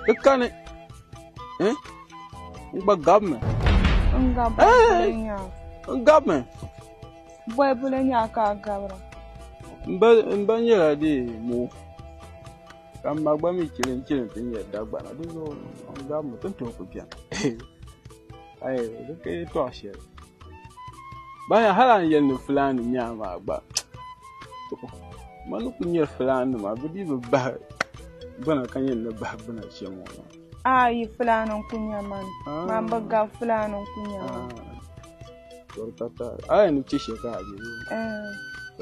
Di kani. Eh? N gba gabi mi. N gabi boli nya. N gabi mi. Boli boli nya ka a gabira. N ba nyɛla di mo. Ka n ma gba mi chili n chili ti nyɛ dagbana. Di zuɣu n gabi mi. Ti ni tooi ku bɛni. ayi di ka yi tɔɣa shɛli baya hali an yɛli ni fulani nyaa maa gba mani ku nyɛ fulani nima bi dii bi bahi gbana ka yɛn ni bahi gbana chɛ ŋɔ ayi fulani n ku nyɛ man ah. man bi ga fulani n ku nyɛ man ah. ayi ni chɛ shɛ ka a bɛ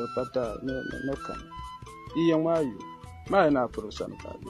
eh. pata ni kan yi yɛŋ maa yi maa yi na piri sani ka a bɛ